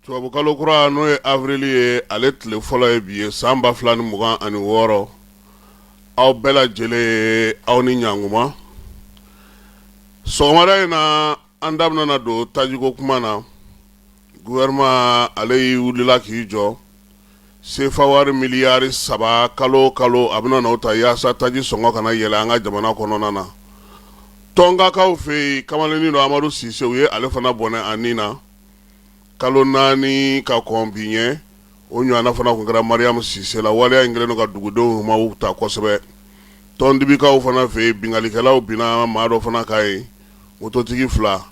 Tubabukalo kura n'o ye awurili ye ale tile fɔlɔ ye bi ye san ba fila ni mugan ani wɔɔrɔ aw bɛɛ lajɛlen aw ni ɲankuma sɔgɔmada in na an da bɛna don tajiko kuma na gouvernement ale y'i wulila k'i jɔ sefawari miliyari saba kalo kalo a bɛna n'o ta yaasa taji sɔngɔ kana yɛlɛ an ka jamana kɔnɔna na tɔnkakaw fɛ yen kamalennin dɔ amadu sise u ye ale fana bɔnɛ a ni na kalo naani ka kɔn bi ɲɛ o ɲɔgɔnna fana tun kɛra mariamu sise la waleya in kɛlen ka dugudenw ma ta kosɛbɛ tɔndibikaw fana fɛ yen binkalikɛlaw binna maa dɔ fana kan yen mototigi fila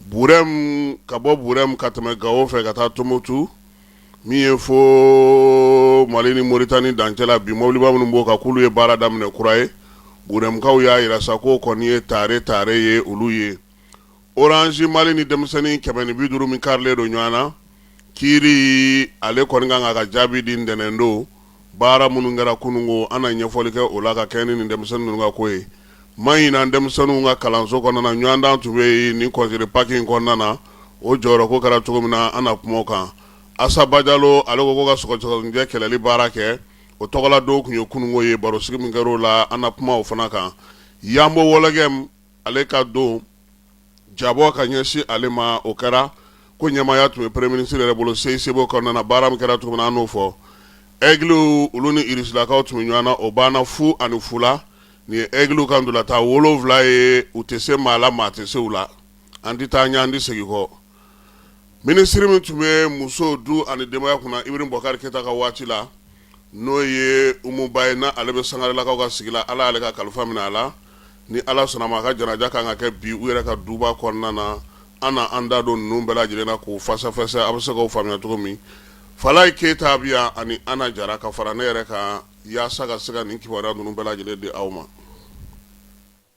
burɛmu ka bɔ burɛmu ka tɛmɛ gawo fɛ ka taa tumutu min ye fo mali ni moritani dancɛ la bi mɔbiliba minnu b'o kan k'olu ye baara daminɛ kura ye burɛmukaw y'a jira sa k'o kɔni ye tare tare ye olu ye oransi mali ni denmisɛnnin kɛmɛ ni bi duuru min karilen don ɲɔgɔn na kiiri ale kɔni ka kan ka jaabi di ntɛnɛn don baara minnu kɛra kununko an na ɲɛfɔli kɛ o la ka kɛɲɛ ni denmisɛnnin ninnu ka ko ye mahina denmisɛnninw ka kalanso kɔnɔna na ɲɔgɔn dan tun bɛ yen ni congé de Pâques in kɔnɔna na o jɔyɔrɔ ko kɛra cogo min na an na kuma o kan asa bajalo ale ko ko ka sɔgɔsɔgɔninjɛ kɛlɛli baara kɛ o tɔgɔla don tun ye kununko ye baro sigi min kɛra o la an na kuma o fana kan yanbo wɔlɔgɛmu ale ka don jabɔ ka ɲɛsin ale ma o kɛra k'o ɲɛmaaya tun bɛ premier ministre yɛrɛ bolo CICB kɔnɔna na baara min kɛra cogo min na an n'o fɔ aigliw olu ni irisilakaw tun bɛ ɲɔgɔn na o banna fu ani fu la nin ye aigliw ka ntolatan wolonwula ye u tɛ se maa la maa tɛ se u la an tɛ taa ɲɛ an tɛ segin kɔ Minisiri min tun bɛ muso du ani denbaya kunna Ibrahim Boubacar Keita ka waati la, n'o ye Umu Ba ye, n'ale bɛ Sangarelakaw ka sigi la, Ala y'ale ka kalifa minɛ a la, ni Ala sɔnna a ma, a ka janaja ka kan ka kɛ bi u yɛrɛ ka duba kɔnɔna na, an na an da don ninnu bɛɛ lajɛlen na k'u fɛsɛfɛsɛ, a bɛ se k'o faamuya cogo min. Falaye Keita bɛ yan ani Anna Jara ka fara ne yɛrɛ kan yaasa ka se ka nin kibaruya ninnu bɛɛ lajɛlen di aw ma.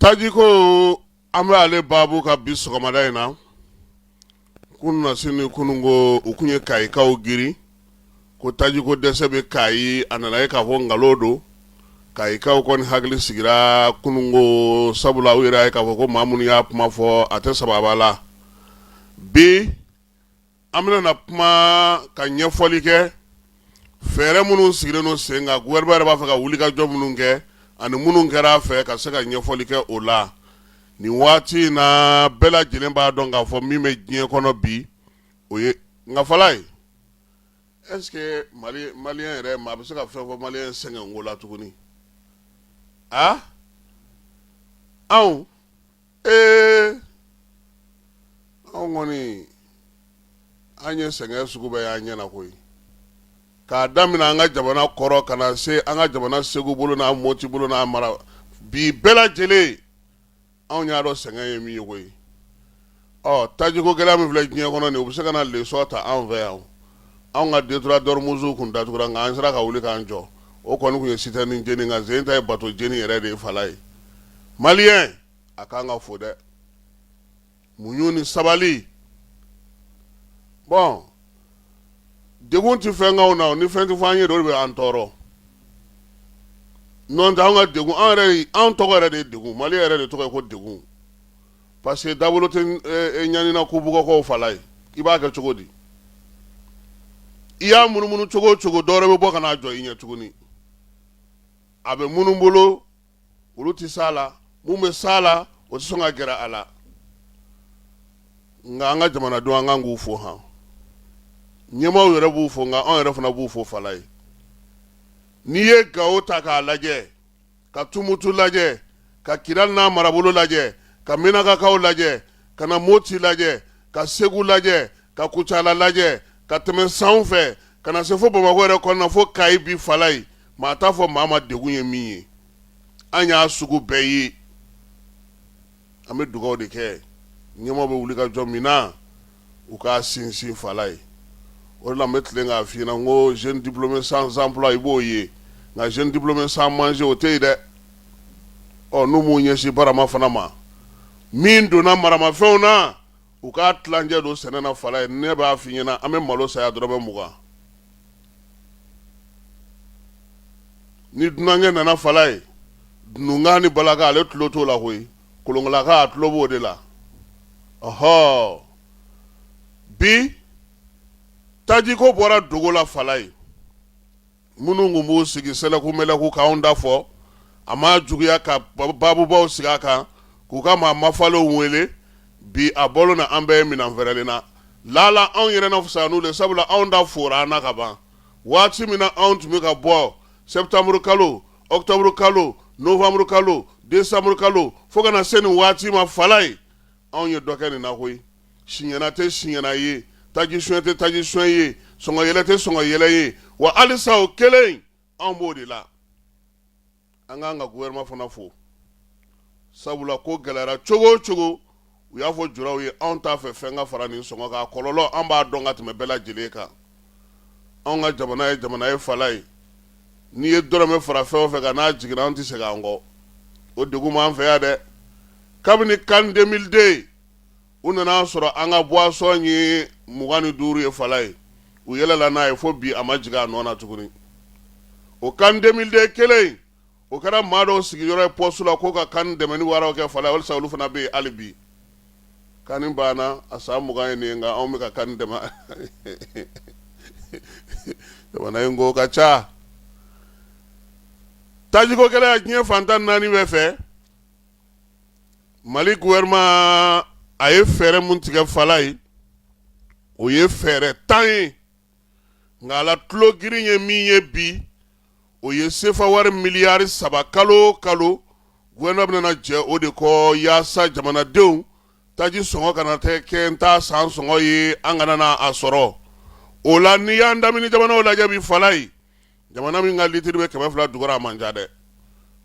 Tajiko an bɛ ale baabu kan bi sɔgɔmada in na kununasini kununko u tun ye kayikaw girin ko tajiko dɛsɛ bɛ kayi a nana ye k'a fɔ nkalon don kayikaw kɔni hakili sigira kununko sabula u yɛrɛ y'a ye k'a fɔ ko maa minnu y'a kuma fɔ a tɛ saba la bi an bɛna na kuma ka ɲɛfɔli kɛ fɛɛrɛ minnu sigilen don sen kan gouvernement yɛrɛ b'a fɛ ka wulikajɔ minnu kɛ ani minnu kɛra a fɛ ka se ka ɲɛfɔli kɛ o la nin waati in na bɛɛ lajɛlen b'a dɔn k'a fɔ min bɛ diɲɛ kɔnɔ bi o ye nka falaye est-ce que mali malien yɛrɛ maa bɛ se ka fɛn fɔ malien sɛgɛn ko la tuguni a anw ee anw kɔni an ye sɛgɛn sugu bɛɛ y'an ɲɛ na koyi k'a daminɛ an ka jamana kɔrɔn ka na se an ka jamana segu bolo n'a moti bolo n'a mara bi bɛɛ lajɛlen anw y'a dɔn sɛgɛn ye min ye koyi ɔ tajiko gɛlɛya min filɛ diɲɛ kɔnɔ nin u bɛ se ka na lesɔn ta anw fɛ yan anw ka détroit d'ormuz tun datugura nka an sera ka wuli k'an jɔ o kɔni tun ye citerne jeni nka sen ta ye bato jeni yɛrɛ de ye falaye malien a kan ka fo dɛ muɲu ni sabali bon degun tɛ fɛn k'anw na ni fɛn tɛ fɔ an ye de o de bɛ an tɔɔrɔ n'o tɛ an ka degun anw tɔgɔ yɛrɛ de degun mali yɛrɛ de tɔgɔ ye ko degun parce que dabolo tɛ eh, eh, ɲani na ko bugɔkɔw falaye i b'a kɛ cogo di i y'a munumunu cogo o cogo dɔwɛrɛ bɛ bɔ ka n'a jɔ i ɲɛ tuguni a bɛ minnu bolo olu tɛ s'a la mun bɛ s'a la o tɛ sɔn ka gɛrɛ a la nka an ka jamanadenw an kan k'u fo han ɲɛmaaw yɛrɛ b'u fo nka anw yɛrɛ fana b'u fo falaye n'i ye gawo ta k'a lajɛ ka tumutu lajɛ ka kidali n'a marabolo lajɛ ka menakakaw lajɛ ka na moti lajɛ ka segu lajɛ ka kucala lajɛ ka tɛmɛ sanfɛ ka na se fo bamakɔ yɛrɛ kɔnɔna fo kayi bi falaye maa t'a fɔ maa ma degun ye min ye an y'a sugu bɛɛ ye an bɛ dugaw de kɛ ɲɛmaaw bɛ wulikajɔ min na u k'a sinsin falaye o de la n bɛ tilen k'a f'i ɲɛ na ko jeune diplômé sans emploi i b'o ye nka jeune diplômé sans manger o tɛ yen dɛ ɔ n'u m'u ɲɛsin barama fana ma min donna maramafɛnw na u k'a tilancɛ don sɛnɛ na falaye ne b'a f'i ɲɛ na an bɛ malo san yan dɔrɔmɛ mugan ni dunankɛ nana falaye dununkan ni balakan ale tulo t'o la koyi kolonkalakan a tulo b'o de la ɔhɔ bi tajiko bɔra dogo la falaye minnu tun b'u sigi sɛlɛku mɛlɛku k'anw da fɔ a ma juguya ka babubaw sigi a kan k'u ka maa mafalenw wele bi a bolo na an bɛɛ ye minɛn fɛrɛlen na lala anw yɛrɛ na fisaya n'u de ye sabula anw ta fora an na ka ban waati min na anw tun bɛ ka bɔ septembre kalo octobre kalo novembre kalo décembre kalo fo ka na se nin waati ma fala ye anw ye dɔ kɛ nin na koyi siɲɛna tɛ siɲɛna ye taji suɲɛ tɛ taji suɲɛ ye sɔngɔ yɛlɛ tɛ sɔngɔ yɛlɛ ye wa halisa o kelen anw b'o de la an k'an ka gouvernement fana fo sabula ko gɛlɛyara cogo cogo u y'a fɔ juraw ye anw t'a fɛ fɛn ka fara nin sɔngɔ kan kɔlɔlɔ an b'a dɔn ka tɛmɛ bɛɛ lajɛlen kan anw ka jamana ye jamana ye fala ye n'i ye dɔrɔmɛ fara fɛn o fɛn kan n'a jiginna an tɛ segin an kɔ o degun b'an fɛ yan dɛ kabini can deux mille deux u nana a sɔrɔ an ka boisson ye mugan ni duuru ye fala ye u yɛlɛla n'a ye fo bi a ma jigin a nɔ na tuguni o can deux mille deux kelen o kɛra maa dɔw sigiyɔrɔ ye poste la ko ka can dɛmɛni waraw kɛ fala ye walisa olu fana bɛ yen hali bi can banna a san mugan ye nin ye nka anw bɛ ka can dɛmɛ jamana in ko ka ca tajiko gɛlɛya diɲɛ fan tan ni naani bɛɛ fɛ mali gouvernement a ye fɛɛrɛ mun tigɛ fala ye o ye fɛɛrɛ tan ye nka a la tulo girin ye min ye bi o ye sefa wari miliyari saba kalo kalo gouvernement bɛna na jɛ o de kɔ yaasa jamanadenw taji sɔngɔ kana tɛ kɛ n t'a san sɔngɔ ye an kana na a sɔrɔ o la n'i y'an damini jamanaw lajɛ bi fala ye jamana min ka litiri bɛ kɛmɛ fila dugura a man ca dɛ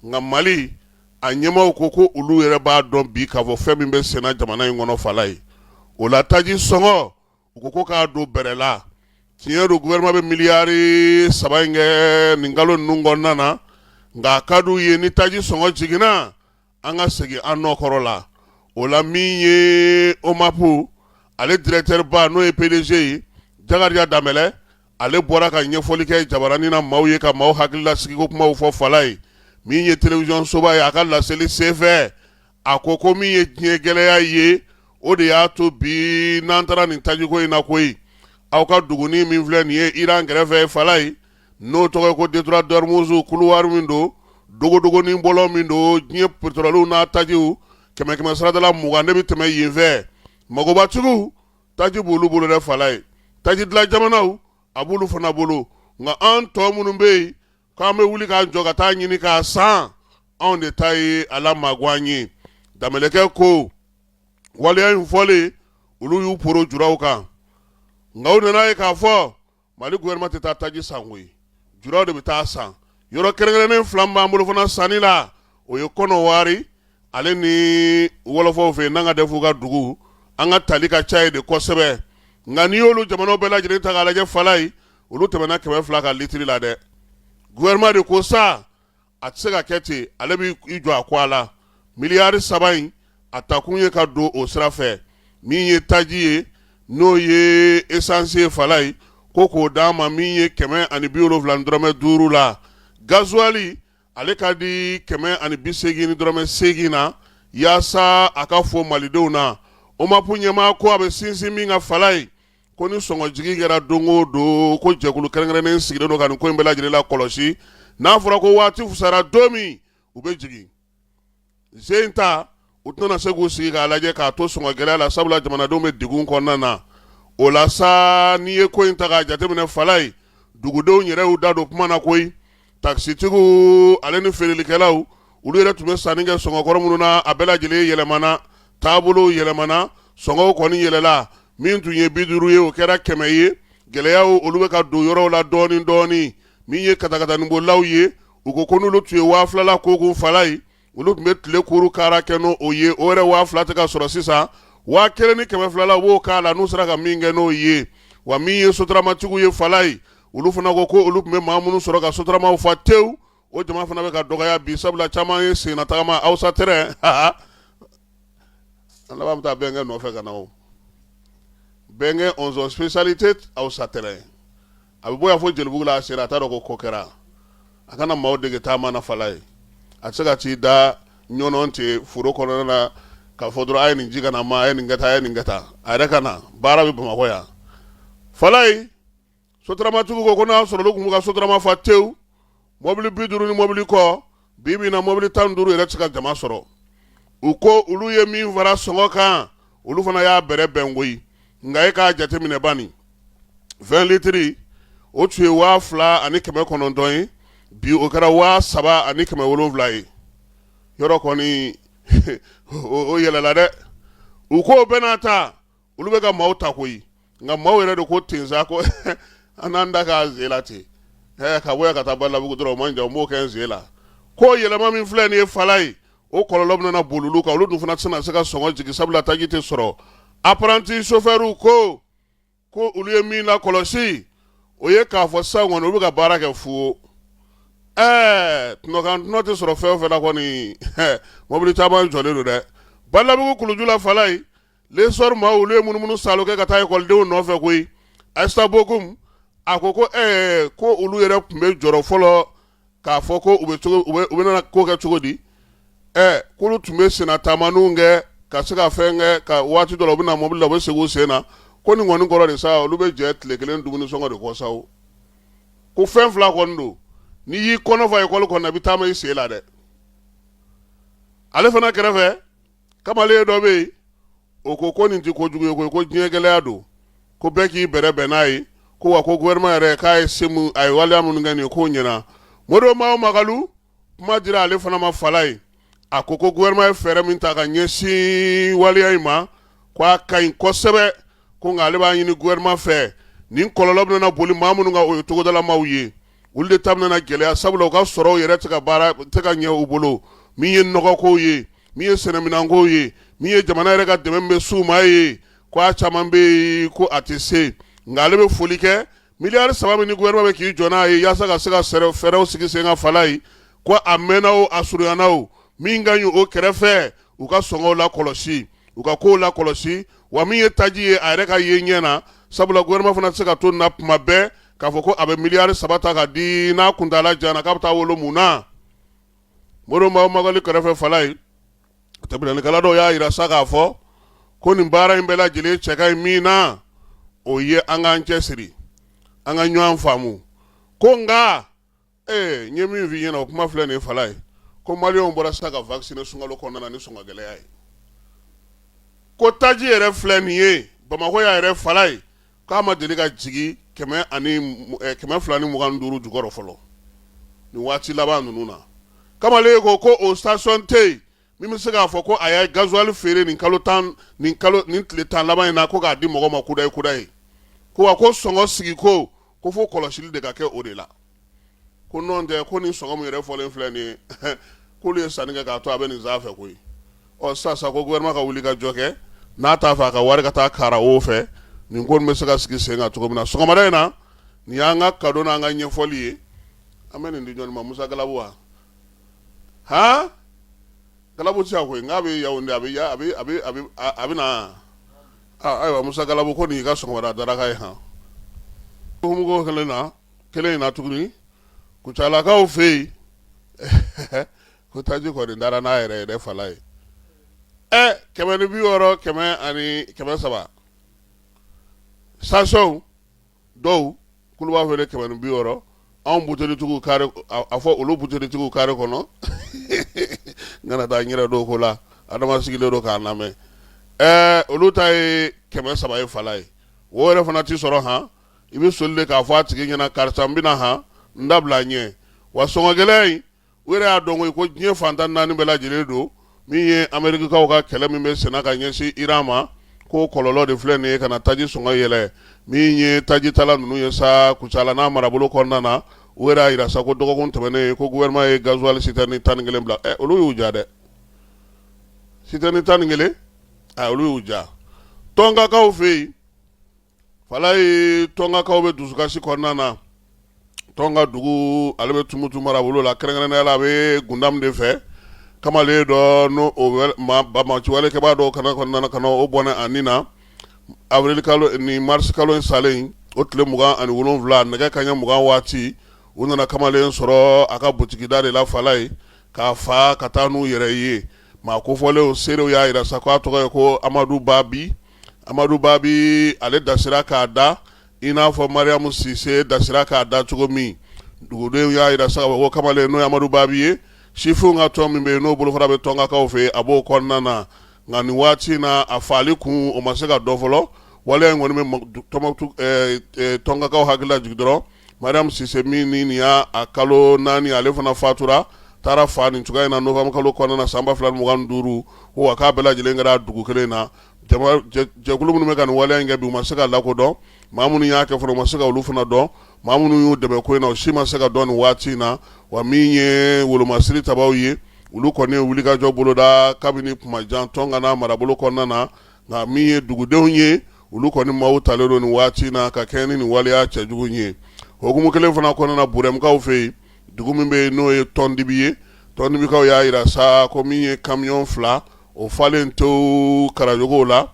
nka mali a ɲɛmaaw ko ko olu yɛrɛ b'a dɔn bi k'a fɔ fɛn min bɛ senna jamana in kɔnɔ fala ye o la taji sɔngɔ u ko ko k'a don bɛrɛ la tiɲɛ don gouvernement bɛ miliyari saba in kɛ nin kalo ninnu kɔnɔna na nka a ka d'u ye ni taji sɔngɔ jiginna an ka segin an nɔ kɔrɔ la o la min ye omap ale directeur ba n'o ye pdg ye jakarija danbɛlɛ ale bɔra ka ɲɛfɔli kɛ jabaranin na maaw ye ka maaw hakililasigiko kumaw fɔ fala ye min ye télévision soba ye a ka laselili senfɛ a ko ko min ye diɲɛ gɛlɛya ye o de y'a to bi n'an taara nin tajiko in na koyi aw ka duguni min filɛ nin ye iran kɛrɛfɛ fala ye n'o tɔgɔ ye ko détroit d'ormuz couloir min don dogodogonin bɔlɔ min don diɲɛ petɔrɔliw n'a tajiw kɛmɛ kɛmɛ saradala mugan ne bɛ tɛmɛ yen fɛ magobatigiw taji b'olu bolo dɛ fala ye taji dilan jamanaw a b'olu fana bolo nka an tɔ minnu bɛ yen k'an bɛ wuli k'an jɔ ka taa ɲini k'a san anw de ta ye a la magan ye danbɛlɛkɛ ko waleya in fɔlen olu y'u poro juraw kan nka u nana ye k'a fɔ Mali gouvernement tɛ taa taji san koyi juraw de bɛ taa san yɔrɔ kɛrɛnkɛrɛnnen fila b'an bolo fana sanni la o ye Kɔnɔwari ale ni wɔlɔfɔw fɛ yen n'an ka de f'u ka dugu an ka tali ka ca ye de kosɛbɛ nka n'i y'olu jamanaw bɛɛ lajɛlen ta k'a lajɛ Falayi olu tɛmɛna kɛmɛ fila ka litiri la dɛ gouvernement de ko sa a tɛ se ka kɛ ten ale bɛ i jɔ a ko a la miliyari saba in a takun ye ka don o sira fɛ min ye taji ye n'o ye esanse ye Falayi ko k'o d'a ma min ye kɛmɛ ani bi wolonwula dɔrɔmɛ duuru la gazuwali ale ka di kɛmɛ ani bi seegin ni dɔrɔmɛ seegin na yaasa a ka fɔ malidenw na OMAP ɲɛmaa ko a bɛ sinsin min kan Falayi Ko ni sɔngɔ jigin kɛra don o don ko jɛkulu kɛrɛnkɛrɛnnen sigilen don ka nin ko in bɛɛ lajɛlen lakɔlɔsi n'a fɔra ko waati fusara don min u bɛ jigin sen ta u tɛna se k'u sigi k'a lajɛ k'a to sɔngɔ gɛlɛya la sabula jamanadenw bɛ degun kɔnɔna na o la sa n'i ye ko in ta k'a jateminɛ Falayi dugudenw yɛrɛ y'u da don kuma na koyi takisitigiw ale ni feerelikɛlaw olu yɛrɛ tun bɛ sanni kɛ sɔngɔkɔrɔ minnu na a bɛɛ lajɛlen yɛlɛmana taabolow yɛlɛmana sɔngɔw kɔni yɛlɛla min tun ye bi duuru ye o kɛra kɛmɛ ye gɛlɛyaw olu bɛ ka don yɔrɔw la dɔɔni dɔɔni min ye katakataninbolilaw ye u ko ko n'olu tun ye waa fila la ko kun Falayi olu tun bɛ tile kuru kaara kɛ n'o ye o yɛrɛ waa fila tɛ ka sɔrɔ sisan waa kelen ni kɛmɛ fila la wo k'a la n'u sera ka min kɛ n'o ye wa min ye soturamatigiw ye Falayi olu fana ko ko olu tun bɛ maa minnu sɔrɔ ka soturamaw fa tewu o jama fana bɛ ka dɔgɔya bi sabula caman ye senna tagama awsa tɛrɛn ha an laban bɛ taa bɛnkɛ nɔfɛ ka na o bɛnkɛ ɔnzɔn spécialité awsa tɛrɛn a bɛ bɔ yan fo Jelibugu la a sera a t'a dɔn ko ko kɛra a kana maaw dege taama na Falayi a tɛ se ka t'i da ɲɔn ten foro kɔnɔn na k'a fɔ dɔrɔn a ye nin ji kana ma a ye nin kɛ tan a ye nin kɛ tan a yɛrɛ ka na baara bɛ Bamakɔ yan Falayi soturamatigiw ko n'a sɔrɔ olu tun b'u ka soturama fa tewu mɔbili bi duuru ni mɔbili kɔ bi bi in na mɔbili tan duuru yɛrɛ tɛ se ka jama sɔrɔ u ko olu ye min fara sɔngɔ kan olu fana y'a bɛrɛ bɛn koyi nka e k'a jateminɛ bani vɛn litiri o tun ye waa fila ani kɛmɛ kɔnɔntɔn ye bi o kɛra waa saba ani kɛmɛ wolonwula ye yɔrɔ kɔni o yɛlɛla dɛ u ko bɛɛ n'a ta olu bɛ ka maaw ta koyi nka maaw yɛrɛ de ko ten sa ko an n'an da k'a zen la ten ka bɔ yan ka taa Balabugu dɔrɔn o man jan n b'o kɛ n sen la ko yɛlɛma min filɛ nin ye Falayi o kɔlɔlɔ bɛna boli olu kan olu dun fana tɛna se ka sɔngɔ jigin sabula taji tɛ sɔrɔ apranti sofɛriw ko ko olu ye min lakɔlɔsi o ye k'a fɔ sisan kɔni olu bɛ ka baara kɛ fu ɛɛ tɔnɔkan tɔnɔ tɛ sɔrɔ fɛn o fɛn na kɔni mɔbili caman jɔlen don dɛ Balabugu kulu ju la Falayi L'Essor ma olu ye munumunu saalo kɛ ka taa ekɔlidenw nɔfɛ koyi Aïssa Bokum a ko ko ɛɛ ko olu yɛrɛ tun bɛ jɔrɔ fɔlɔ k'a fɔ ko u bɛna ko kɛ cogo di k'olu tun bɛ senna taama kɛ ka se ka fɛn kɛ ka waati dɔ la u bɛ na mobili la u bɛ segin u sen na ko nin kɔni kɔrɔ de sa olu bɛ jɛ tile kelen dumuni sɔngɔ de kɔ sa ko fɛn fila kɔni don n'i y'i kɔnɔ fa ekɔli kɔnɔ i bɛ taama i sen la dɛ ale fana kɛrɛfɛ kamalen dɔ bɛ yen o ko ko nin tɛ ko jugu ye ko ko diɲɛ gɛlɛya don ko bɛɛ k'i bɛrɛ bɛn n'a ye ko wa ko gouvernement yɛrɛ k'a ye se mun a ye waleya minnu kɛ nin ye k'o ɲɛna Modibo Mao Magalu kuma dira ale fana ma fala ye a ko ko gouvernement ye fɛɛrɛ min ta ka ɲɛsin waleya in ma ko a ka ɲi kosɛbɛ ko nka ale b'a ɲini gouvernement fɛ nin kɔlɔlɔ bɛna boli maa minnu kan o ye togodala maaw ye olu de ta bɛna gɛlɛya sabula u ka sɔrɔw yɛrɛ tɛ ka baara tɛ ka ɲɛ u bolo min ye nɔgɔkow ye min ye sɛnɛminankow ye min ye jamana yɛrɛ ka dɛmɛ bɛ s'u ma ye ko a caman bɛ yen ko a tɛ se nka ale bɛ foli kɛ miliyari saba min ni gouvernement bɛ k'i jɔ n'a ye yaasa ka se ka fɛɛrɛw sigi sen ka fala ye ko a mɛnna o a surunyana o min ka ɲi o kɛrɛfɛ u ka sɔngɔw lakɔlɔsi u ka kow lakɔlɔsi wa min ye taji ye a yɛrɛ ka ye ɲɛ na sabula gouvernement fana tɛ se ka to nin na tuma bɛɛ k'a fɔ ko a bɛ miliyari saba ta ka di n'a kuntaala janna k'a bɛ taa wolo mun na Modibo Mao Magalu kɛrɛfɛ fala ye tɛmɛnikɛla dɔw y'a yira sa k'a fɔ ko nin baara in bɛɛ lajɛlen cɛ ka ɲi min na o ye an k'an cɛsiri an ka ɲɔgɔn faamu ko nka ee n ye min f'i ɲɛna o kuma filɛ nin fala ye ko maliyɛnw bɔra sa ka vacciner sunkalo kɔnɔna ni sɔngɔ gɛlɛya ye ko taji yɛrɛ filɛ nin ye Bamakɔ y'a yɛrɛ fala ye k'a ma deli ka jigin kɛmɛ kɛmɛ fila ni mugan duuru jukɔrɔ fɔlɔ nin waati laban ninnu na kamalen ko ko o station tɛ yen min bɛ se k'a fɔ ko a ye gasoil feere nin kalo tan ni tile tan laban in na ko k'a di mɔgɔ ma kudayi kudayi ko wa ko sɔngɔ sigi ko ko fo kɔlɔsili de ka kɛ o de la ko nɔntɛ ko nin sɔngɔ min yɛrɛ fɔlen filɛ nin ye k'olu ye sanni kɛ k'a to a bɛ nin sanfɛ koyi ɔ sisan ko gouvernement ka wuli ka jɔ kɛ n'a t'a fɛ a ka wari ka taa kara o fɛ nin ko bɛ se ka sigi sen kan cogo min na sɔgɔma in na nin y'an ka cadeau n'an ka ɲɛfɔli ye an bɛ nin di jɔn ma musa gabu wa hɔn gabu tɛ koyi n'a bɛ ya a bɛ na ayiwa musa gabu ko nin y'i ka sɔgɔma daraka ye hukumu kelen na kelen in na tuguni kucalakaw fɛ yen ko taji kɔni dara n'a yɛrɛ yɛrɛ falaye ɛ kɛmɛ ni bi wɔɔrɔ kɛmɛ ani kɛmɛ saba station dɔw k'olu b'a feere kɛmɛ ni bi wɔɔrɔ anw butelitigiw kari a fɔ olu butelitigiw kari kɔnɔ n kana taa n yɛrɛ don ko la adama sigilen don k'a lamɛn ɛɛ olu ta ye kɛmɛ saba ye falaye o yɛrɛ fana tɛ sɔrɔ han i bɛ soli de k'a fɔ a tigi ɲɛna karisa n bɛna han n dabila n ɲɛ wa sɔngɔgɛlɛya in u yɛrɛ y'a dɔn ko diɲɛ fan tan ni naani bɛɛ lajɛlen don min ye amerikakaw ka kɛlɛ min bɛ senna ka ɲɛsin iran ma k'o kɔlɔlɔ de filɛ nin ye ka na taji sɔngɔ yɛlɛn min ye tajitala ninnu ye sa kucala n'a marabolo kɔnɔna na u yɛrɛ y'a yira sa ko dɔgɔkun tɛmɛnen ko gouvernement ye gasoil citerne tan ni kelen bila ɛ olu y'u ja dɛ citerne tan ni kelen olu y'u ja tɔnkakaw fɛ yen falaye tɔnkakaw bɛ dusukasi kɔnɔna na tɔnka dugu ale bɛ tumutu marabolo la kɛrɛnkɛrɛnnenya la a bɛ gundam de fɛ kamalen dɔ n'o banbaanci walekɛbaa dɔw ka na o bɔnɛ a ni na awirilikalo ni marisikalo in salen o tile mugan ani wolonwula nɛgɛ kanɲɛ mugan waati u nana kamalen sɔrɔ a ka butigida de la falaye k'a fa ka taa n'u yɛrɛ ye maa kofɔlenw seerew y'a yira sa k' a tɔgɔ ye ko amadu babi amadu babi ale dasira k'a da i n'a fɔ mariamu sise dasira k'a da cogo min dugudenw y'a yira sa ko kamalen n'o ye amadu babi ye sifinw ka tɔn min bɛ yen n'o bolofara bɛ tɔnkakaw fɛ a b'o kɔnɔna na nka nin waati in na a faali kun o ma se ka dɔn fɔlɔ waleya in kɔni bɛ tɔnkakaw hakili lajigin dɔrɔn mariamu sise min ni nin y'a kalo naani ale fana fatura taara fa nin cogoya in na nowanburu kalo kɔnɔna na san ba fila mugan duuru ko wa k'a bɛɛ lajɛlen kɛra dugu kelen in na jɛkulu minnu bɛ ka nin waleya in kɛ bi u ma se ka lakodɔn maa minnu y'a kɛ fana u ma se ka olu fana dɔn maa minnu y'u dɛmɛ ko in na u si ma se ka dɔn nin waati in na wa min ye wolomasiri tabaw ye olu kɔni ye wulikajɔ boloda kabini kumajan tɔnka n'a marabolo kɔnɔna na nka min ye dugudenw ye olu kɔni maaw talen don nin waati in na ka kɛɲɛ ni nin waleya cɛjugu ye hukumu kelen fana kɔnɔna na Burɛmukaw fɛ yen dugu min bɛ yen n'o ye tɔndibi ye tɔndibikaw y'a yira sa ko min ye kamiyɔn fila o falen to karajogow la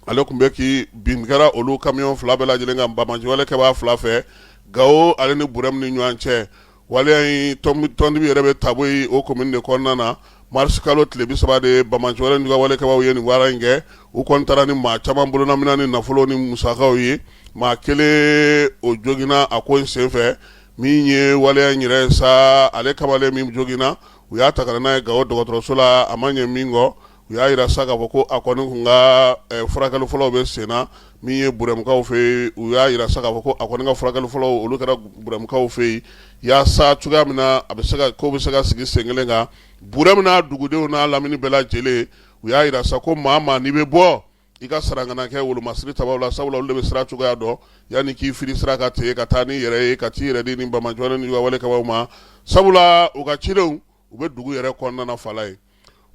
ale tun bɛ k'i bin kɛra olu kamiyɔn fila bɛɛ lajɛlen kan banbaanci walekɛbaa fila fɛ gawo ale ni burɛmu ni ɲɔgɔn cɛ wa tɔndibi yɛrɛ bɛ taboye o komini de kɔnɔna na marisi kalo tile bi saba de banbaanci walekɛbaw ye nin baara in kɛ u kɔni taara ni maa caman bololaminɛn ni nafolo ni musakaw ye maa kelen o joginna a ko in senfɛ min ye waleya in yɛrɛ sa ale kamalen min joginna u y'a ta ka n'a ye Gawo dɔgɔtɔrɔso la a ma ɲɛ min kɔ u y'a jira sa k'a fɔ ko a kɔni kun ka eh, furakɛli fɔlɔw bɛ sen na min ye burɛmukaw fɛ yen u y'a jira sa k'a fɔ ko a kɔni ka furakɛli fɔlɔw olu kɛra burɛmukaw fɛ yen yaasa cogoya min na a bɛ se ka ko bɛ se ka sigi sen kelen kan burɛmu n'a dugudenw n'a lamini bɛɛ lajɛlen u y'a jira sa ko maa maa n'i bɛ bɔ i ka sara kana kɛ wolomasiri tabaw la sabula olu de bɛ sira cogoya dɔn yanni k'i fili sira kan ten ka taa n'i yɛrɛ ye ka taa i yɛrɛ di ni bamajɔlen ni walekɛbaw ma sabula u ka cidenw u bɛ dugu yɛrɛ kɔnɔna na fala ye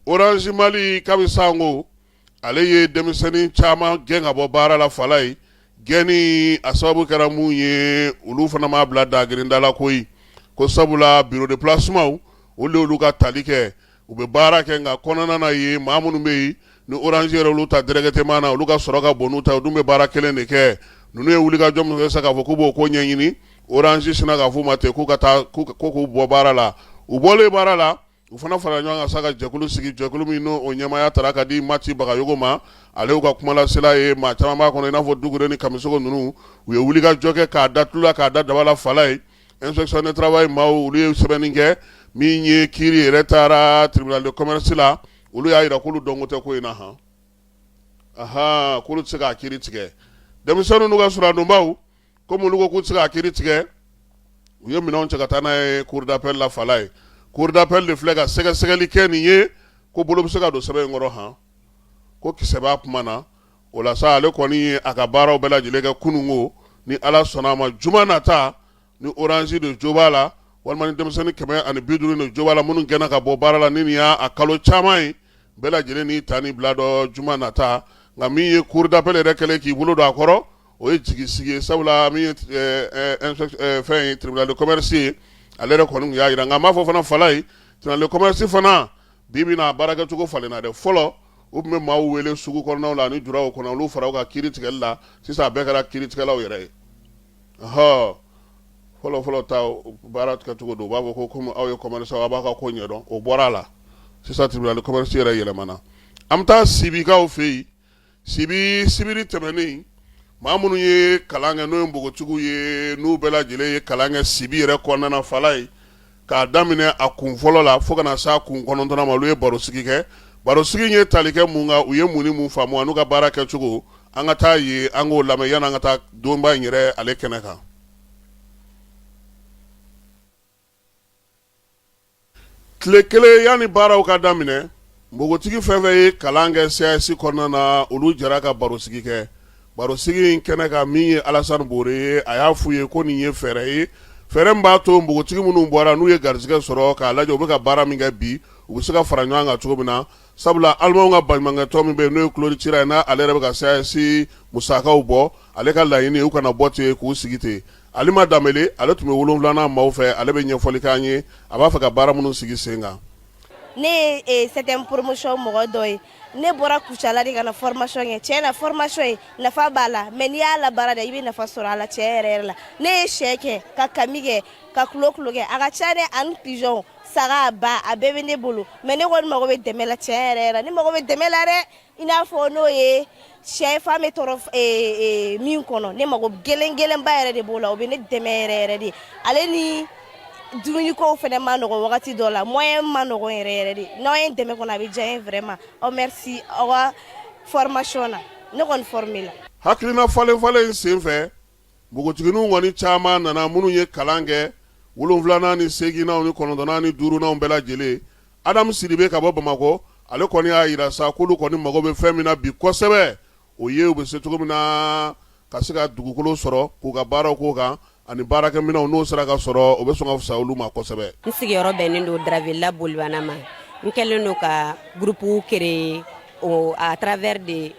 Orange Mali kabi sanko ale ye denmisɛnnin caman gɛn ka bɔ baara la fala ye gɛnni a sababu kɛra mun ye olu fana m'a bila dagirinda la koyi ko sabula bureau de placement olu olu ka tali kɛ u bɛ baara kɛ nka kɔnɔna na ye maa minnu bɛ yen ni Orange yɛrɛ olu ta directement na olu ka sɔrɔ ka bon n'u ta u dun bɛ baara kelen de kɛ ninnu ye wulikajɔ min kɛ sa k'a fɔ k'u b'o ko ɲɛɲini Orange sinna k'a f'u ma ten k'u ka taa ko k'u bɔ baara la u bɔlen baara la u fana farala ɲɔgɔn kan sa ka jɛkulu sigi jɛkulu min n'o ɲɛmaaya taara ka di Mati Bagayogo ma ale y'u ka kumalasela ye maa caman b'a kɔnɔ i n'a fɔ Dugure ni Kamisogo ninnu u ye wulikajɔ kɛ k'a da tulu la k'a da daba la fala ye inspection de travail maaw olu ye sɛbɛnni kɛ min ye kiri yɛrɛ taara tribunal de commerce la olu y'a jira k'olu dɔnko tɛ ko in na hɔn aɔn k'olu tɛ se k'a kiri tigɛ denmisɛnninw n'u ka suradonbaw komi olu ko k'u tɛ se k'a kiri tigɛ u ye minɛnw cɛ ka taa n'a ye cour d'appel la fala ye cour d'appel de filɛ ka sɛgɛsɛgɛli kɛ nin ye ko bolo bɛ se ka don sɛbɛn in kɔrɔ hɔn ko kisɛ b'a kuma na o la sa ale kɔni ye a ka baaraw bɛɛ lajɛlen kɛ kununko ni ala sɔnna a ma juma nata ni Orange de jo b'a la walima ni denmisɛnnin kɛmɛ ani bi duuru de jo b'a la minnu gɛnna ka bɔ baara la ni nin y'a a kalo caman ye bɛɛ lajɛlen n'i ta n'i bila dɔn juma nata nka min ye cour d'appel yɛrɛ kɛlen k'i bolo don a kɔrɔ o ye jigisigi ye sabula min ye eh, eh, inspe- eh, fɛn ye tribunal de commerce ye ale yɛrɛ kɔni tun y'a jira nka n b'a fɔ fana fala ye tribunal de commerce fana Bi bi in na baara kɛcogo falenna dɛ fɔlɔ u tun bɛ maaw wele sugu kɔnɔnaw la ani juraw kɔnɔ olu fara u kan kiri tigɛli la sisan a bɛɛ kɛra kiri tigɛlaw yɛrɛ ye ɔhɔ fɔlɔ fɔlɔ ta baara kɛcogo don u b'a fɔ ko komi aw ye commerçant aw b'aw ka ko ɲɛdɔn o bɔra a la sisan tribunal de commerce yɛrɛ yɛlɛmana an bɛ taa Sibikaw fɛ yen sibi sibiri tɛmɛnen maa minnu ye kalan kɛ n'o ye npogotigiw ye n'u bɛɛ lajɛlen ye kalan kɛ sibi yɛrɛ kɔnɔna na fala ye k'a daminɛ a kun fɔlɔ la fo ka na s'a kun kɔnɔntɔnnan ma olu ye barosigi kɛ barosigi ye tali kɛ mun kan u ye mun ni mun faamu ani n'u ka baara kɛ cogo an ka t'a ye an k'o lamɛn yanni an ka taa donba in yɛrɛ ale kɛnɛ kan tile kelen yanni baaraw ka daminɛ npogotigi fɛn fɛn ye kalan kɛ CAAS kɔnɔna na olu jɛra ka barosigi kɛ barosigi in kɛnɛ kan min ye alasan bore ye a y'a f'u ye ko nin ye fɛɛrɛ ye fɛɛrɛ min b'a to npogotigi minnu bɔra n'u ye garijɛgɛ sɔrɔ k'a lajɛ u bɛ ka baara min kɛ bi u bɛ se ka fara ɲɔgɔn kan cogo min na sabula alimanw ka baɲumankɛtɔn min bɛ yen n'o ye Klaus Tschira ye n'ale yɛrɛ bɛ ka CAAS musakaw bɔ ale ka laɲini ye u kana bɔ ten k'u sigi ten Alima Danbele ale tun bɛ wolonwulanan maaw fɛ ale bɛ ɲɛfɔli k'an ye a b'a fɛ ka baara minnu sigi sen kan. Ne ye septième promotion mɔgɔ dɔ ye ne bɔra Kucala de ka na formation kɛ tiɲɛ na formation in nafa b'a la mais n'i y'a labaara dɛ i bɛ nafa sɔrɔ a la tiɲɛ yɛrɛ yɛrɛ la ne ye sɛ kɛ ka kami kɛ ka kulokulo kɛ a ka ca dɛ ani pigeon saga ba a bɛɛ bɛ ne bolo mais ne kɔni mago bɛ dɛmɛ la tiɲɛ yɛrɛ yɛrɛ ne mago bɛ dɛmɛ la dɛ i n'a fɔ n'o ye sɛfan bɛ tɔrɔ min kɔnɔ ne mago gɛlɛn gɛlɛnba yɛrɛ de b'o la o bɛ ne dɛmɛ yɛrɛ yɛrɛ de ale ni dumunikow fana ma nɔgɔ wagati dɔ la moyen ma nɔgɔ yɛrɛ yɛrɛ de n'aw ye dɛmɛ kɔnɔ a bɛ diya n ye vraiment merci aw ka formation na ne kɔni formé la hakilina falenfalen in senfɛ npogotigininw kɔni caman nana minnu ye kalan kɛ wolonwulanan ni seeginnanw ni kɔnɔntɔnnan ni duurunanw bɛɛ lajɛlen adamu sidibe ka bɔ bamakɔ ale kɔni y'a jira sa k'olu kɔni mago bɛ fɛn min na bi kosɛbɛ o ye u bɛ se cogo min na ka se ka dugukolo sɔrɔ k'u ka baaraw k'o kan ani baarakɛminɛnw n'o sera ka sɔrɔ o bɛ sɔn ka fisa olu ma kosɛbɛ n sigiyɔrɔ bɛnnen don dravela bolibana ma n kɛlen don ka groupe créer à travers de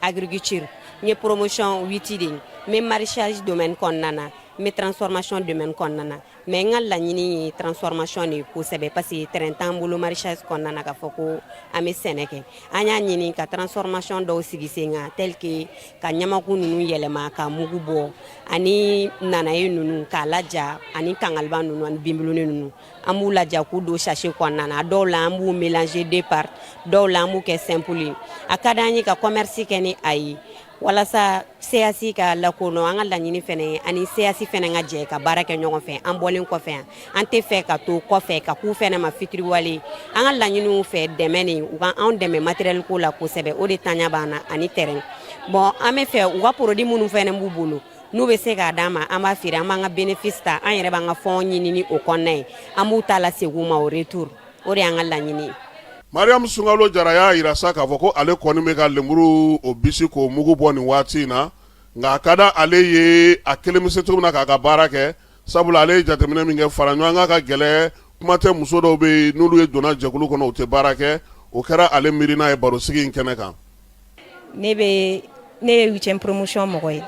agriculture n ye promotion huit de ye n bɛ maraîchage domaine kɔnɔna na n bɛ transformation domaine kɔnɔna na mais n ka laɲini ye transformation de ye kosɛbɛ parce que terrain t'an bolo maraîchage kɔnɔna na k'a fɔ ko an bɛ sɛnɛ kɛ an y'a ɲini ka transformation dɔw sigi sen kan tel que ka ɲamaku ninnu yɛlɛma ka mugu bɔ ani nanaye ninnu k'a laja ani kangaliba ninnu ani binbuluni ninnu an b'u laja k'u don sachet kɔnɔna na dɔw la an b'u mélanger de part dɔw la an b'u kɛ simple ye a ka d'an ye ka commerce kɛ ni a ye walasa CAAS ka lakodɔn an ka laɲini fana ye ani CAAS fana ka jɛ ka baara kɛ ɲɔgɔn fɛ an bɔlen kɔfɛ yan an tɛ fɛ ka to kɔfɛ ka k'u fana ma fitiriwale an ka laɲini u fɛ dɛmɛ de u ka anw dɛmɛ matériel ko la kosɛbɛ o de ntanya b'an na ani terrain bon an bɛ fɛ u ka produit minnu fana b'u bolo n'u bɛ se k'a d'an ma an b'a feere an b'an ka bénéfice ta an yɛrɛ b'an ka fonds ɲini ni o kɔnɔna ye an b'u ta lasegin u ma au retour o de y'an ka laɲini ye mariam sungalo jara y'a jira sa k'a fɔ ko ale kɔni bɛ ka lenburu o bisi k'o mugu bɔ nin waati in na nka a ka da ale ye a kelen bɛ se cogo min na k'a ka baara kɛ sabula ale ye jateminɛ min kɛ fara ɲɔgɔn kan ka gɛlɛn kuma tɛ muso dɔw bɛ yen n'olu ye donna jɛkulu kɔnɔ u tɛ baara kɛ o kɛra ale miirina ye barosigi in kɛnɛ kan ne bɛ ne ye huitième promotion mɔgɔ ye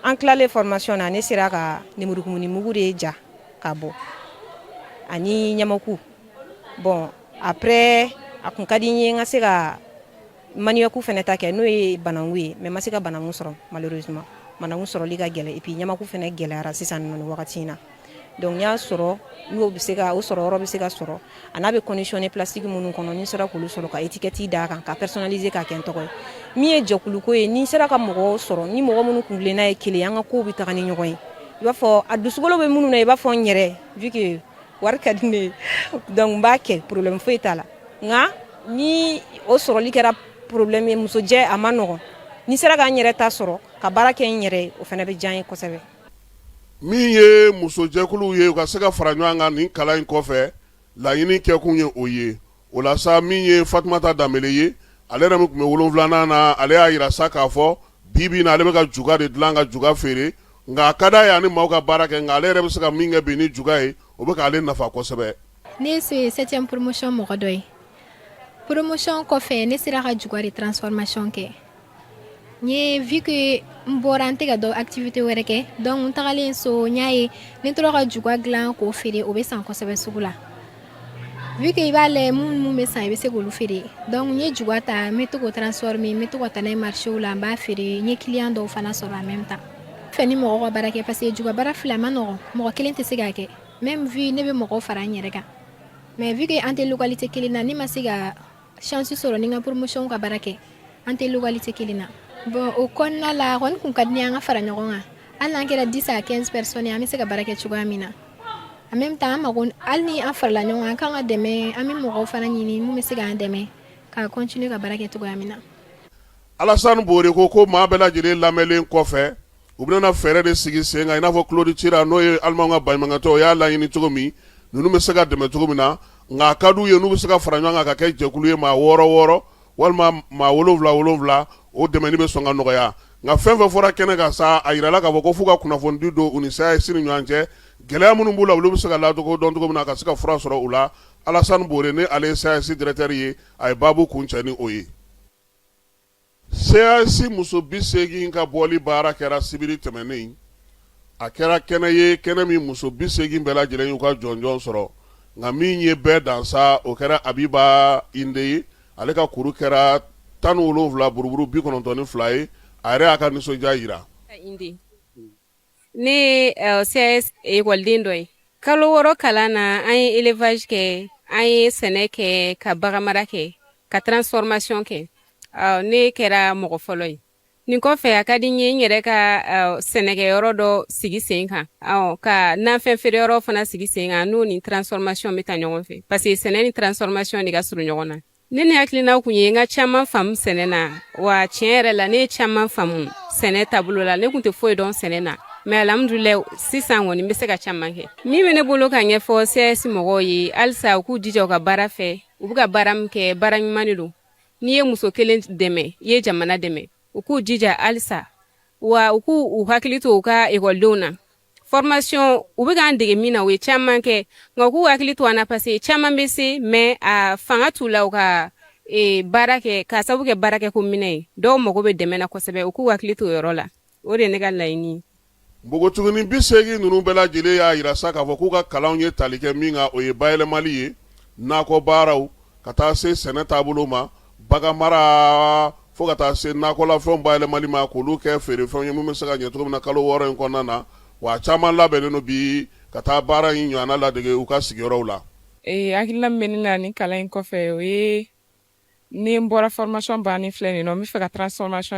an tilalen formation na ne sera ka lemurukumuni mugu de ja ka bɔ ani ɲamaku bon après a kun ka di n ye n ka se ka maniyaku fana ta kɛ n'o ye bananku ye mais n ma se ka bananku sɔrɔ malheureusement bananku sɔrɔli ka gɛlɛn et puis ɲamaku fana gɛlɛyara sisan nin wagati in na donc n y'a sɔrɔ n'o bɛ se ka o sɔrɔ yɔrɔ bɛ se ka sɔrɔ a n'a bɛ conditionné plastique minnu kɔnɔ ni n sera k'olu sɔrɔ ka étiquette d'a kan ka personnaliser k'a kɛ n tɔgɔ ye min ye jɛkuluko ye ni n sera ka mɔgɔw sɔrɔ ni mɔgɔ minnu kuntilenna ye kelen an ka ko bɛ taga ni ɲɔgɔn ye i b'a fɔ a dusukolo bɛ minnu na i b'a fɔ n yɛrɛ vu que wari ka di ne ye donc n b'a kɛ problème foyi t'a la nka ni o sɔrɔli kɛra problème ye musojɛ a ma nɔgɔ ni n sera ka n yɛrɛ ta sɔrɔ ka baara kɛ n yɛrɛ o fana bɛ diya n ye kosɛbɛ min ye musojɛkuluw ye u ka se ka fara ɲɔgɔn kan nin kalan in kɔfɛ laɲini kɛkun ye o ye o la sa min ye fatumata danbele ye ale yɛrɛ min tun bɛ wolonwulanan na ale y'a yira sa k'a fɔ bi bi in na ale bɛ ka juga de dilan ka juga feere nka a ka d'a ye a ni maaw ka baara kɛ nka ale yɛrɛ bɛ se ka min kɛ bi ni juga ye o bɛ k'ale nafa kosɛbɛ ne ye septième promotion mɔgɔ dɔ ye promotion kɔfɛ ne sera ka juga de transformation kɛ n ye vu que n bɔra n tɛ ka dɔ activité wɛrɛ kɛ donc n tagalen so n y'a ye ne tora ka juga dilan k'o feere o bɛ san kosɛbɛ sugu la vu que i b'a lajɛ minnu bɛ san i bɛ se k'olu feere donc n ye juga ta n bɛ to k'o transformer n bɛ to ka taa n'a ye marchéw la n b'a feere n ye client dɔw fana sɔrɔ en même temps fɛ ni mɔgɔ ka baara kɛ parce que juga baara fila ma nɔgɔ mɔgɔ kelen tɛ se k'a kɛ même vu ne bɛ mɔgɔ fara n yɛrɛ kan mais vu que an tɛ localité kelen na ne ma se ka chance sɔrɔ ni n ka promotion ka baara kɛ an tɛ localité kelen na bon o kɔnɔna la a kɔni kun ka di ne ye an ka fara ɲɔgɔn kan hali n'an kɛra 10 à 15 personnes an bɛ se ka baara kɛ cogoya min na en même temps an mago hali ni an farala ɲɔgɔn kan an kan ka dɛmɛ an bɛ mɔgɔw fana ɲini mun bɛ se k'an dɛmɛ ka continuer ka baara kɛ cogoya min na Alassane Bore ko ko maa bɛɛ lajɛlen lamɛnlen kɔfɛ, u bɛna fɛɛrɛ de sigi sen kan i n'a fɔ Claude Tschira n'o ye Allemandw ka baɲumankɛtɔn o y'a laɲini cogo min, ninnu bɛ se ka dɛmɛ cogo min na, nka a ka d'u ye n'u bɛ se ka fara ɲɔgɔn kan ka kɛ jɛkulu ye maa wɔɔrɔ wɔɔrɔ walima maa wolonwula wolonwula, o dɛmɛni bɛ sɔn ka nɔgɔya. Nka fɛn o fɛn fɔra kɛnɛ kan sa, a yirala k'a fɔ ko f'u ka kunnafonidi don u ni CAAS ni ɲɔgɔn cɛ, gɛlɛya minnu b'u la, olu bɛ se ka ladɔn cogo min na ka se ka fura sɔrɔ u la. Alassane Bore ni ale ye CAAS directeur ye, a ye baabu kuncɛ ni o ye. CAAS muso bi seegin ka bɔli baara kɛra sibiri tɛmɛnen a kɛra kɛnɛ ye kɛnɛ min muso bi seegin bɛɛ lajɛlen y'u ka jɔnjɔn sɔrɔ nka min ye bɛɛ dan sa o kɛra Abiba Inde ye ale ka kuru kɛra tan ni wolonwula buruburu bi kɔnɔntɔn ni fila ye a yɛrɛ y'a ka nisɔndiya yira ne ye euh, CAAS ekɔliden dɔ ye kalo wɔɔrɔ kalan na an ye élevage kɛ an ye sɛnɛ kɛ ka baganmara kɛ ka transformation kɛ euh, ne kɛra mɔgɔ fɔlɔ ye nin kɔfɛ a ka di n ye n yɛrɛ ka euh, sɛnɛkɛyɔrɔ dɔ sigi sen kan ka nafɛn feereyɔrɔ fana sigi sen kan n'o ni transformation bɛ taa ɲɔgɔn fɛ parce que sɛnɛ ni transformation de ka surun ɲɔgɔn na ne ni hakilinaw kun ye n ka caman faamu sɛnɛ na wa tiɲɛ yɛrɛ la ne ye caman faamu sɛnɛ taabolo la ne kun tɛ foyi dɔn sɛnɛ na mais alhamdulillah sisan kɔni n bɛ se ka caman kɛ min bɛ ne bolo k'a ɲɛfɔ CAAS mɔgɔw ye halisa u k'u jija u ka baara fɛ u bɛ ka baara min kɛ baara ɲuman de don n'i ye muso kelen dɛmɛ i ye jamana dɛmɛ u k'u jija halisa wa u k'u u hakili to u ka ekɔlidenw na Formation u bɛ k'an dege min na u ye caman kɛ nka u k'u hakili to an na parce que caman bɛ se mais a fanga t'u la u ka baara kɛ ka sababu kɛ baarakɛ ko minɛn ye dɔw mago bɛ dɛmɛ na kosɛbɛ u k'u hakili to o yɔrɔ la o de ye ne ka laɲini ye npogotiginin bi seegin ninnu bɛɛ lajɛlen y'a yira sa k'a fɔ k'u ka kalanw ye tali kɛ min kan o ye bayɛlɛmali ye nakɔ baaraw ka taa se sɛnɛ taabolo ma baganmara Fo ka taa se nakɔlafɛnw bayɛlɛmali ma k'olu kɛ feerefɛnw ye min bɛ se ka ɲɛ cogo min na kalo wɔɔrɔ in kɔnɔna na, wa a caman labɛnnen don bi ka taa baara in ɲɔgɔnna ladege u ka sigiyɔrɔw la. Ee, hakilina min bɛ ne na nin kalan in kɔfɛ o ye ni n bɔra formation bannen filɛ nin ye nɔ, n bɛ fɛ ka transformation